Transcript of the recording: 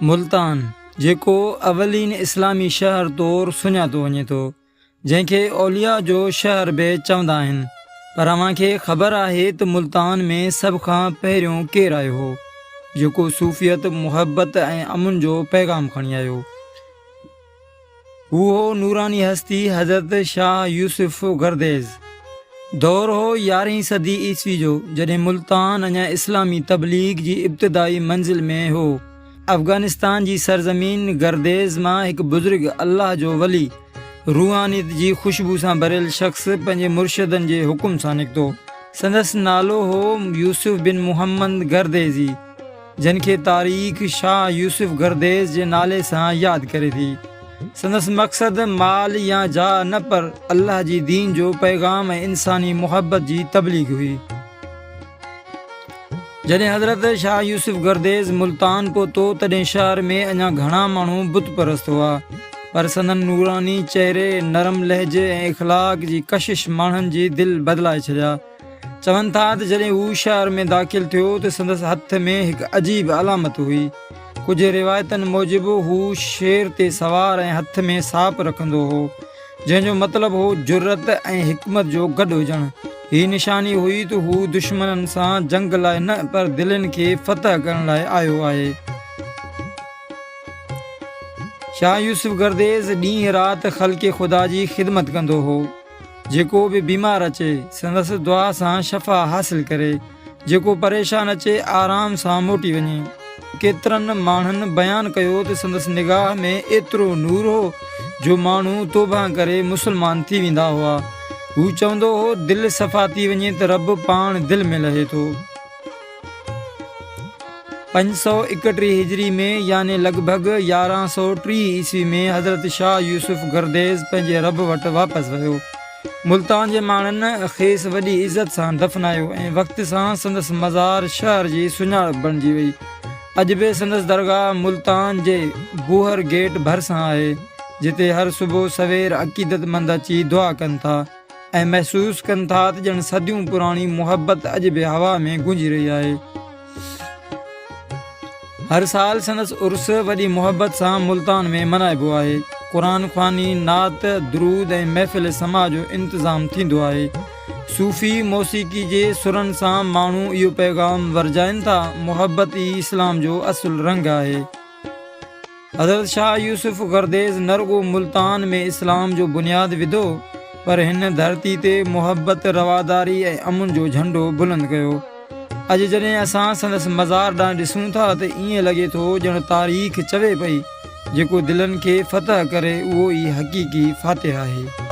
ملتان، جيڪو اولين اسلامي شهر طور سڃاتو وڃي ٿو، جنهن کي اولياء جو شهر به چوندا آهن، پر اوهان کي خبر آهي ته ملتان ۾ سڀ کان پهريون ڪير آيو هو، جيڪو صوفيت، محبت ۽ امن جو پيغام کڻي آيو؟ اهو نوراني هستي حضرت شاهه يوسف گرديز دور هو يارهين صدي عيسوي جو جڏهن ملتان اڃا اسلامي تبليغ جي ابتدائي منزل ۾ هو افغانستان جي سرزمين گرديز مان هڪ بزرگ الله جو ولي روحانيت جي خوشبو سان ڀريل شخص پنهنجي مرشدن جي حڪم سان نڪتو سندس نالو هو يوسف بن محمد گرديزي. جنھن کي تاريخ شاھه يوسف گرديز جي نالي سان ياد ڪري ٿي. سندس مقصد مال يا جاھه نه پر الله جي دين جو پيغام ۽ انساني محبت جي تبليغ ھئي. جڏھن حضرت شاھه يوسف گرديز ملتان پھتو تڏھن شھر ۾ اڃا گھڻا ماڻھو بت پرست ھئا پر سندن نوراني چهري، نرم لهجي ۽ اخلاق جي ڪشش ماڻھن جي دل بدلائي ڇڏيا. چون ٿا ته جڏهن هو شهر ۾ داخل ٿيو ته سندس هٿ ۾ هڪ عجيب علامت هئي. ڪجهه روايتن موجب هو شير تي سوار ۽ هٿ ۾ ساپ رکندو هو، جنهن جو مطلب هو جرئت ۽ حڪمت جو گڏ هجڻ. هي نشاني هئي ته هو دشمنن سان جنگ لاء نه پر دلين کي فتح ڪرڻ لاء آيو آهي. شاهه يوسف گرديز ڏينهن رات خلق خدا جي خدمت ڪندو هو. جيڪو به بيمار اچي سندس دعا سان شفا حاصل ڪري جيڪو پريشان اچي آرام سان موٽي وڃي ڪيترن ماڻهن بيان ڪيو ته سندس نگاهه ۾ ايترو نور هو جو ماڻهو توبه ڪري مسلمان ٿي ويندا هئا هو چوندو هو دل صفا ٿي وڃي ته رب پاڻ دل ۾ لهي ٿو پنج سؤ ايڪٽيهه هجري ۾ يعني لڳ ڀڳ يارهن سؤ ٽيهه عيسوي ۾ حضرت شاهه يوسف گرديز پنهنجي رب وٽ واپس ويو. ملتان جي ماڻهن کيس وڏي عزت سان دفنايو ۽ وقت سان سندس مزار شهر جي سڃاڻپ بڻجي وئي. اڄ به سندس درگاهه ملتان جي گوهر گيٽ ڀرسان آهي، جتي هر صبح سوير عقيدتمند اچي دعا ڪن ٿا. ۽ محسوس ڪن ٿا ته ڄڻ صديون پراڻي محبت اڄ به هوا ۾ گونجي رهي آهي هر سال سندس عرس وڏي محبت سان ملتان ۾ ملهائبو آهي قرآن خواني نعت درود ۽ محفل سما جو انتظام ٿيندو آهي صوفي موسيقي جي سرن سان ماڻهو اهو پيغام ورجائن ٿا محبت ئي اسلام جو اصل رنگ آهي حضرت شاهه يوسف گرديز نه رڳو ملتان ۾ اسلام جو بنياد وڌو پر هن ڌرتي تي محبت رواداري ۽ امن جو جهنڊو بلند ڪيو اڄ جڏهن اسان سندس مزار ڏانهن ڏسون ٿا ته ائين لڳي ٿو ڄڻ تاريخ چوي پئي جيڪو دلن کي فتح ڪري اهو ئي حقيقي فاتح آهي